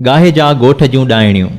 گاهي جا ڳوٺ جون ڏائڻيون،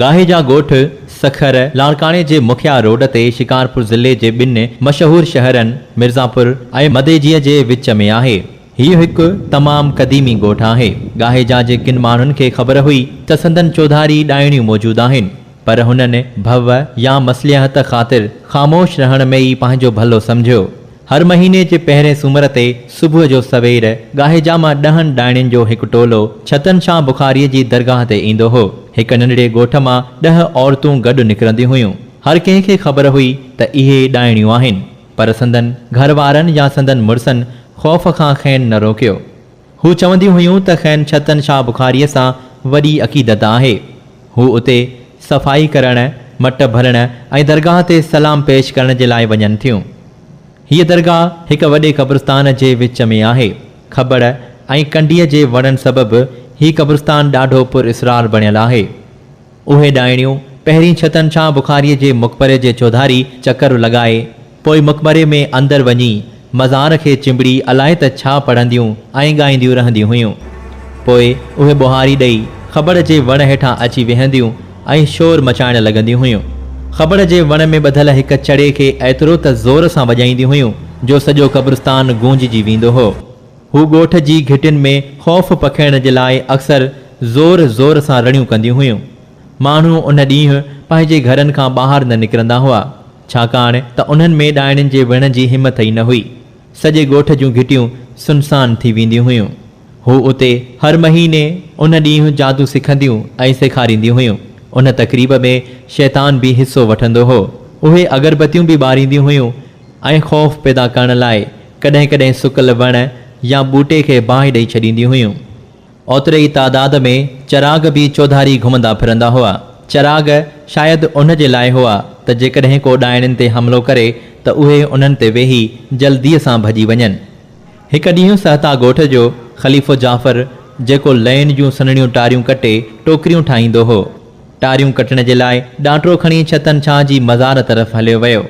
گاهي جا ڳوٺ سکر لاڙڪاڻي جي مکيه روڊ تي شڪارپور ضلعي جي ٻن مشهور شهرن مرزاپور ۽ مديجيء جي وچ ۾ آهي. هيء هڪ تمام قديمي ڳوٺ آهي. گاهي جا جي ڪن ماڻهن کي خبر هئي ته سندن چوڌاري ڏائڻيون موجود آهن، پر هنن ڀو يا مصلحت خاطر خاموش رهڻ ۾ ئي پنهنجو ڀلو سمجهيو. هر مهيني جي پهرين سومر تي صبح جو سوير ڳاهي جا مان ڏهن ڏائڻين جو هڪ ٽولو ڇتن شاه بخاريء جي درگاهه تي ايندو هو. هڪ ننڍڙي ڳوٺ مان ڏهه عورتون گڏ نڪرنديون هيون. هر ڪنهن کي خبر هئي ته اهي ڏائڻيون آهن. پر سندن گهر وارن يا سندن مڙسن خوف کان کين نه روڪيو. هو چونديون هيون ته کين ڇتن شاهه بخاريء سان وڏي عقيدت آهي. هو اتي صفائي ڪرڻ، مٽ ڀرڻ ۽ درگاهه تي سلام پيش ڪرڻ جي لاء وڃن ٿيون. هيء درگاهه هڪ وڏي قبرستان جي وچ ۾ آهي. کٻڙ ۽ ڪنڊيء جي وڻن سبب هي قبرستان ڏاڍو پراسرار بڻيل آهي. اهي ڏائڻيون پهرين ڇتن ڇان بخاريء جي مقبري جي چوڌاري چڪر لڳائي، پوء مقبري ۾ اندر وڃي، مزار کي چنبڙي الائي ته ڇا پڙهنديون ۽ ڳائينديون رهنديون هيون. پوء اهي ٻوهاري ڏئي، خٻڙ جي وڻ هيٺان اچي ويهنديون ۽ شور مچائڻ لڳنديون هيون. خٻڙ جي وڻ ۾ ٻڌل هڪ چڙي کي ايترو ته زور سان وڄائينديون هيون، جو سڄو قبرستان گونججي ويندو هو. هو ڳوٺ جي گهٽين ۾ خوف پکيڙڻ جي لاء اڪثر زور زور سان رڙيون ڪنديون هيون. ماڻهو ان ڏينهن پنهنجي گهرن کان ٻاهر نه نڪرندا هئا، ڇاڪاڻ ته انهن ۾ ڏائڻين جي وڙهڻ جي همٿ ئي نه هئي. سڄي ڳوٺ جون گهٽيون سنسان ٿي وينديون هيون. هو اتي هر مهيني ان ڏينهن جادو سکنديون ۽ سيکارينديون هيون. ان تقريب ۾ شيطان به حصو وٺندو هو. اهي اگربتيون به ٻارينديون هيون ۽ خوف پيدا ڪرڻ لاء ڪڏهن ڪڏهن سڪل وڻ يا ٻوٽي کي باهه ڏئي ڇڏينديون هيون. اوتري ئي تعداد ۾ چراغ به چوڌاري گهمندا ڦرندا هئا. چراغ شايد ان جي لاء هئا ته جيڪڏهن ڪو ڏائڻين تي حملو ڪري ته اهي انهن تي ويهي جلديء سان ڀڄي وڃن. هڪ ڏينهن سهتا ڳوٺ جو خليفو جعفر جيڪو لئين جون سنهڙيون ٽاريون ڪٽي ٽوڪريون ٺاهيندو هو، ٽاريون ڪٽڻ جي لاء ڏانٽرو کڻي ڇتن ڇانء جي مزار طرف هليو ويو.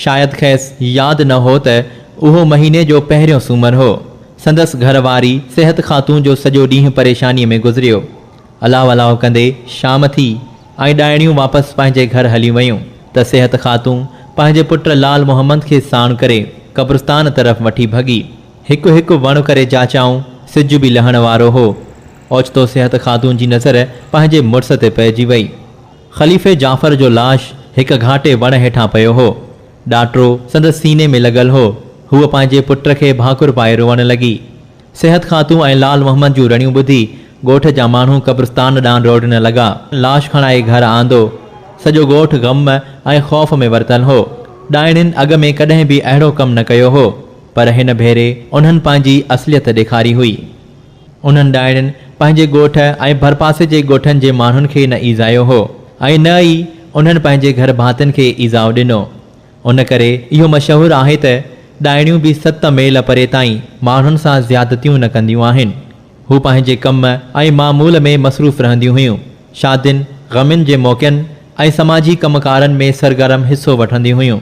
شايد کيس ياد نه هو ته اهو مهيني جو پهريون سومر هو. سندس گهر واري صحت خاتون جو سڄو ڏينهن پريشانيء ۾ گذريو. الاهو الاهو ڪندي شام ٿي ۽ ڏائڻيون واپس پنهنجي گهر هليون ويون ته صحت خاتون پنهنجي پٽ لعل محمد کي ساڻ ڪري قبرستان طرف وٺي ڀڳي. هڪ هڪ وڻ ڪري جاچيائون، سج به لهڻ وارو هو. اوچتو صحت خاتون جي نظر پنهنجي مڙس تي پئجي وئي. خليفي جعفر جو لاش هڪ گهاٽي وڻ هيٺان پيو هو. ڏاٽرو سندس سيني ۾ لڳل هو. هوء پنهنجي پٽ کي ڀاڪر پائي روئڻ لڳي. صحت خاتون ۽ لعل محمد جون رڙيون ٻڌي ڳوٺ جا ماڻهو قبرستان ڏانهن ڊوڙڻ لڳا. لاش کڻائي گهر آندو. سڄو ڳوٺ غم ۽ خوف ۾ ورتل هو. ڏائڻين اڳ ۾ ڪڏهن به اهڙو ڪم نه ڪيو هو، پر هن ڀيري انهن پنهنجي اصليت ڏيکاري هئي. انهن ڏائڻين پنهنجي ڳوٺ ۽ ڀرپاسي جي ڳوٺن جي ماڻهن کي نه ايذايو هو ۽ نه ئي انهن پنهنجي گهر ڀاتين کي ايذاء ڏنو. ان ڪري اهو مشهور آهي ته ڏائڻيون به ست ميل پري تائين ماڻهن سان زيادتيون نه ڪنديون آهن. هو پنهنجي ڪم ۽ معمول ۾ مصروف رهنديون هيون. شادين، غمين جي موقعن ۽ سماجي ڪم ڪارن ۾ سرگرم حصو وٺنديون هيون.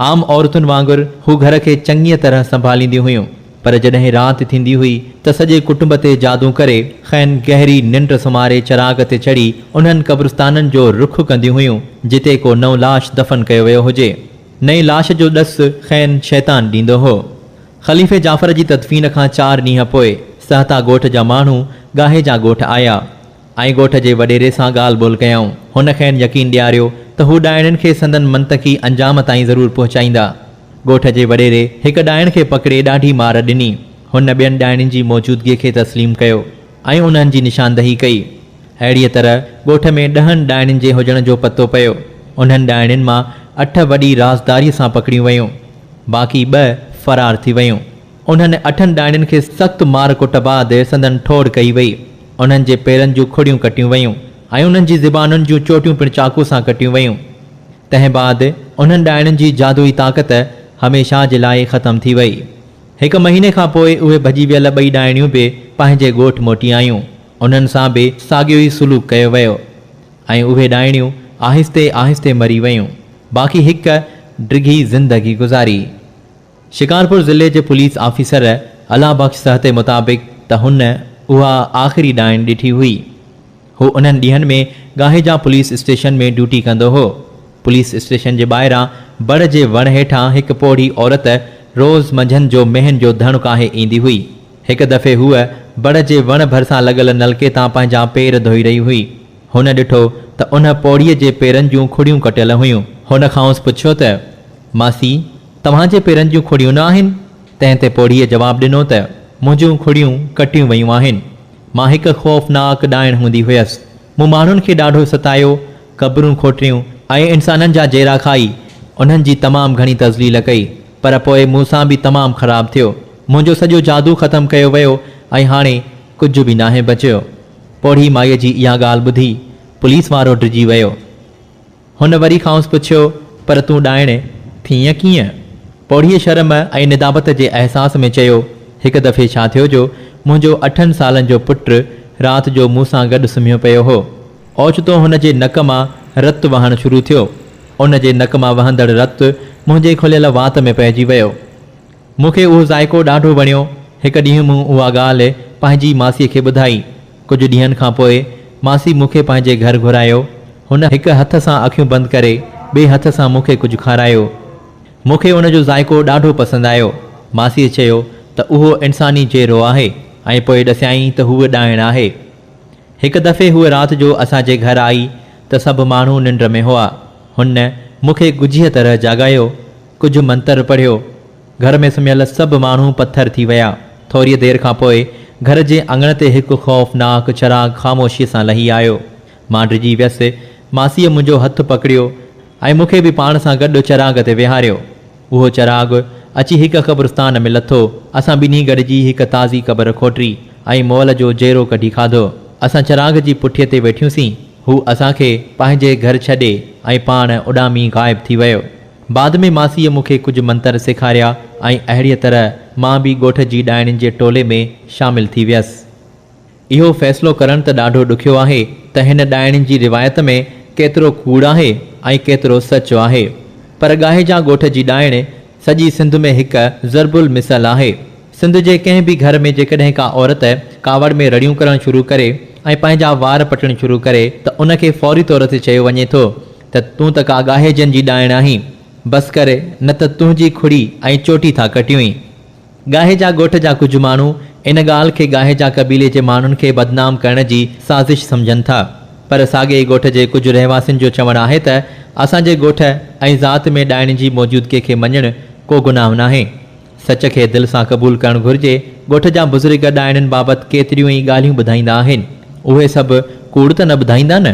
عام عورتن وانگر هو گهر کي چڱيء طرح سنڀالينديون هيون، پر جڏهن رات ٿيندي هئي ته سڄي ڪٽنب تي جادو ڪري، کين گهري ننڊ سمهاري چراغ تي چڙهي انهن قبرستانن جو رخ ڪنديون هيون، جتي ڪو نئون لاش دفن ڪيو ويو هجي. نئين لاش جو ڏس کين شيطان ڏيندو هو. خليفي جعفر جي تدفين کان چار ڏينهن پوء سهتا ڳوٺ جا ماڻهو ڳاهي جا ڳوٺ آيا. ۽ ڳوٺ جي وڏيري سان ڳالهه ٻولهه ڪيائون. هن کين يقين ڏياريو ته هو ڏائڻين کي سندن منطقي انجام تائين ضرور پهچائيندا. ڳوٺ جي وڏيري هڪ ڏائڻ کي پڪڙي ڏاڍي مار ڏني. هن ٻين ڏائڻين جي موجودگيء کي تسليم ڪيو ۽ انهن جي نشاندهي ڪئي. اهڙيء طرح ڳوٺ ۾ ڏهن ڏائڻين جي هجڻ جو پتو پيو. انهن ڏائڻين مان اٺ وڏي رازداريء سان پڪڙيون ويون. باقي ٻه فرار ٿي ويون. انهن اٺن ڏاڻين کي سخت مار ڪٽ بعد سندن ٺوڙ ڪئي وئي. انهن جي پيرن جون کڙيون ڪٽيون ويون ۽ انهن جي زبانن جون چوٽيون پڻ چاقو سان ڪٽيون ويون. تنهن بعد انهن ڏاڻين جي جادوئي طاقت هميشه جي لاء ختم ٿي وئي. هڪ مهيني کان پوء اهي ڀڄي ويل ٻئي ڏاڻيون به پنهنجي ڳوٺ موٽي آيون. انهن سان به ساڳيو ئي سلوڪ ڪيو ويو ۽ اهي ڏاڻيون آهستي آهستي مري ويون. باقي هڪ ڊگهي زندگي گذاري. شڪارپور ضلعي جي پوليس آفيسر الله بخش سهتي مطابق ته هن اها آخري ڏائڻ ڏٺي هئي. هو انهن ڏينهن ۾ گاهيجا پوليس اسٽيشن ۾ ڊيوٽي ڪندو هو. پوليس اسٽيشن جي ٻاهران بڙ جي وڻ هيٺان هڪ پوڙهي عورت روز منجهند جو مينهن جو ڌڻ ڪاهي ايندي هئي. هڪ دفعي هوء بڙ جي وڻ ڀرسان لڳل نلڪي تان پنهنجا پير ڌوئي رهي هئي. هن ڏٺو ته ان پوڙهيء جي پيرن جون کڙيون ڪٽيل هيون. هن کانئس پڇيو ته، ماسي! توهان جي پيرن جون کڙيون نه آهن؟ تنهن تي پوڙهيء جواب ڏنو ته، منهنجون کڙيون ڪٽيون ويون آهن. مان هڪ خوفناڪ ڏائڻ هوندي هيس. مون ماڻهن کي ڏاڍو ستايو، قبرون کوٽريون ۽ انسانن جا جيرا کائي، انهن جي تمام گهڻي تذليل ڪئي، پر پوء مون سان به تمام خراب ٿيو. منهنجو سڄو جادو ختم ڪيو ويو ۽ هاڻي ڪجهه به ناهي بچيو. پوڙهي مائيء جي اها ڳالهه ٻڌي، پوليس وارو ڊڄي ويو. هن وري کانئس پڇيو، پر تون ڏائڻي ٿي ائين ڪيئن؟ پوڙهيء شرم ۽ ندامت جي احساس ۾ چيو، هڪ دفعي ڇا ٿيو جو منهنجو اٺن سالن جو پٽ رات جو مون سان گڏ سمهيو پيو هو. اوچتو هن جي نڪ مان رت وهڻ شروع ٿيو. ان جي نڪ مان وهندڙ رت منهنجي کليل وات ۾ پئجي ويو. مون کي اهو ذائقو ڏاڍو وڻيو. هڪ ڏينهن مون اها ڳالهه پنهنجي ماسيء کي ٻڌائي. ڪجهه ڏينهن کان پوء ماسي مون کي پنهنجي گهر گهرايو. هن هڪ هٿ سان اکيون بند ڪري ٻئي هٿ سان مون کي ڪجهه کارايو. مون کي ان جو ذائقو ڏاڍو پسند آيو. ماسيء چيو ته اهو انساني جيرو آهي ۽ پوء ڏسيائين ته هوء ڏائڻ آهي. هڪ دفعي هوء رات جو اسان جي گهر آئي ته سڀ ماڻهو ننڊ ۾ هئا. هن مون کي ڳجهيء طرح جاڳايو، ڪجهه منتر پڙهيو گهر ۾ سمهيل سڀ ماڻهو پٿر ٿي ويا. ٿوريء دير کان پوء گهر جي اڱڻ تي هڪ خوفناڪ چراغ خاموشيء سان لهي آيو. مان ڊڄي ويس. ماسيء منهنجو هٿ پڪڙيو ۽ مون کي به پاڻ سان گڏ چراغ تي ويهاريو. اهو چراغ اچي هڪ قبرستان ۾ لٿو. اسان ٻنهي گڏجي هڪ تازي قبر کوٽري ۽ مئل جو جيرو ڪڍي کاڌو. اسان چراغ جي پٺيء تي ويٺيون سين. هو اسان کي پنهنجي گهر ڇڏي ۽ پاڻ اڏامي غائب ٿي ويو. بعد ۾ ماسيء مون کي ڪجهه منتر سيکاريا ۽ اهڙيء طرح مان به ڳوٺ جي ڏائڻين جي ٽولي ۾ شامل ٿي ويس. اهو فيصلو ڪرڻ ته ڏاڍو ڏکيو آهي ته هن ڏائڻين جي روايت ۾ ڪيترو ڪوڙ آهي ۽ ڪيترو سچ آهي. پر ڳاهيجان ڳوٺ جي ڏائڻ سڄي سنڌ ۾ هڪ ضرب المثل آهي. سنڌ جي ڪنهن به گهر ۾ جيڪڏهن ڪا عورت ڪاوڙ ۾ رڙيون ڪرڻ شروع ڪري ۽ پنهنجا وار پٽڻ شروع ڪري ته ان کي فوري طور تي چيو وڃي ٿو ته تون ته ڪا ڳاهيجن جي ڏائڻ آهين، بس ڪر نه ته تنهنجي کڙي ۽ چوٽي ٿا ڪٽيونء. ڳاهيجا ڳوٺ جا ڪجهه ماڻهو ان ڳالهه کي ڳاهيجا قبيلي جي ماڻهن کي بدنام ڪرڻ جي سازش سمجهن ٿا، پر ساڳئي ئي ڳوٺ جي ڪجهه رهواسين جو چوڻ آهي ته اسان جي ڳوٺ ۽ ذات ۾ ڏائڻي جي موجودگي کي مڃڻ ڪو گناهه ناهي. سچ کي دل سان قبول ڪرڻ گهرجي. ڳوٺ جا بزرگ ڏائڻين بابت ڪيتريون ئي ڳالهيون ٻڌائيندا آهن. اهي سڀ ڪوڙ ته نه ٻڌائيندا نه؟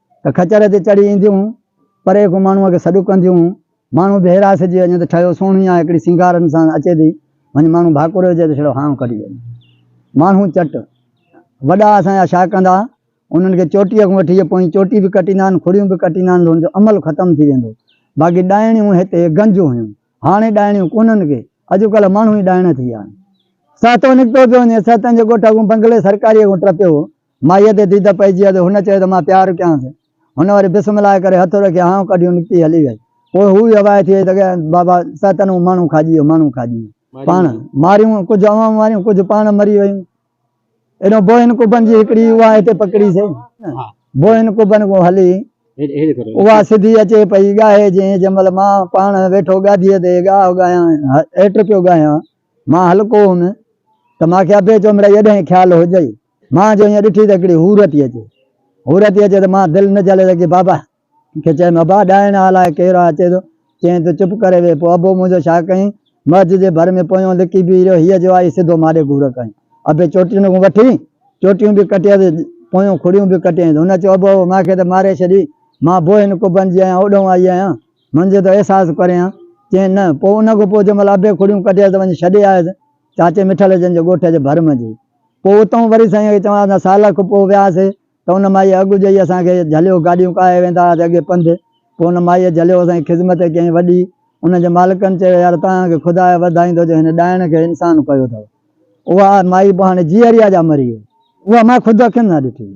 ته کچر تي چڙهي اينديون، پري ڪو ماڻهوء کي سڏ ڪنديون، ماڻهو به حيراسجي وڃي ته ٺهيو سهڻي آ، هڪڙي سينگارن سان اچي ٿي، وڃ ماڻهو ڀاڪوري هجي ته ڇڙو هانء ڪڍي وڃي. ماڻهو چٽ. وڏا اسان جا ڇا ڪندا، انهن کي چوٽيء کان وٺي پوئين چوٽي به ڪٽيندا آهن، کڙيون به ڪٽيندا آهن ته ان جو عمل ختم ٿي ويندو. باقي ڏائڻيون هتي گنج هيون، هاڻي ڏائڻيون ڪونهن ڪي، اڄڪلهه ماڻهو ئي ڏائڻ ٿي ويا آهن. سهتو نڪتو پيو وڃي، سهتن جي ڳوٺ اڳون بنگلي سرڪاريء کان ٽپيو هو، مائيء تي ديده پئجي ويس. هن چيو ته مان پيار ڪيانس. هن وري بسم الله ڪري هٿ رکي هانء ڪڍيون نڪتي هلي ويئي. پوء هوء ئي هوائي ٿي وئي ته ڳائي، بابا سا تن هو ماڻهو کاڄي ويو، ماڻهو کاڄي ويو. پاڻ ماريون، ڪجهه اوهان ماريون، ڪجهه پاڻ مري ويون. ايڏو بوهين ڪبن جي هڪڙي اوهان هتي پڪڙي سهي. بوهين ڪبن ڪو هلي، اوها سڌي اچي پئي ڳاهي جئين جنهن مهل مان پاڻ ويٺو گاديء تي ڳاهه ڳايان، هيٽ پيو ڳايان. مان هلڪو هوم ته مان کي اڀي چومڙائيء ڏانهن خيال هجئي مان جو ائين ڏٺي ته هڪڙي حور ٿي اچي. حور ٿي اچي ته مان دل نه جهلي سگهيس بابا کي چيم ابا ڏائڻ آ الاء ڪير آ اچي ٿو. چيائين ته چپ ڪري ويهه. پوء ابو منهنجو ڇا ڪيائين. مئج جي ڀر ۾ پويون لڪي بيهي رهيو. هيء جو آئي سڌو ماڏي گهور ڪيائين. ابي چوٽين کان وٺي چوٽيون به ڪٽيس پويون کڙيون به ڪٽيائينس. هن چيو ابو ابو مان کي ته ماري ڇڏي. مان بوء هن قبن جي آهيان اوڏهون آئي آهيان. منهنجو ته احساس ڪريان. چيائين نه. پوء ان کان پوء جنهن مهل ابي کڙيون ڪٽيس ته وڃي ڇڏي آيس چاچي مٺل جن جي ڳوٺ جي ڀر منجهي. پوء اتئون وري سائين کي چوانس ها سال کن پوء وياسي ته ان مائيء اڳ جئي اسان کي جهليو، گاڏيون ڪاهي ويندا هئاسي اڳي پنڌ، پوء ان مائيء جهليو اسان جي خذمت ڪيائين وڏي، ان جي مالڪن چيو يار توهان کي خدا وڌائيندو جو هن ڏائڻ کي انسان ڪيو اٿئو. اها مائي پوء هاڻي جيئريا جا مري وئي. اها مائي خود اکين سان ڏٺي هئي.